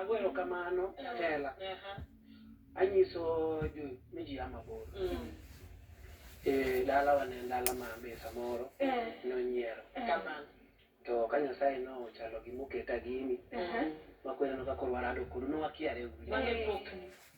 Agwero kamano tela anyiso jo miji ama bor mm. e dala wane dala ma be samoro eh. nonyiero eh. kamano to ka nyasaye no chalo gi moketa gini uh-huh. makwera no kakoro warado kuno no wakiare ugri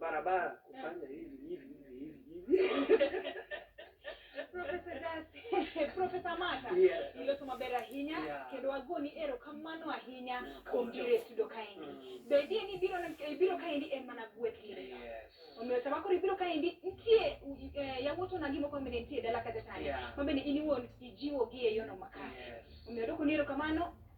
barabara kufanya hivi hivi hivi hivi hivi. Profesa Dasi, Profesa Mata, Yeah. iloso maber ahinya Yeah. kendo agoni erokamano ahinya kuom biro e studio kaendi. Mm. Bedie ni biro ne- biro kaendi en mana gweth kinde ka. Yes. Omiyo sama koro ibiro kaendi nitie eh, yawuot onagi moko mabende nitie e dala kacha chande Yeah. mabende in iwuon ijiwogi e yono makare. Yes. Omiyo adwoko ni erokamano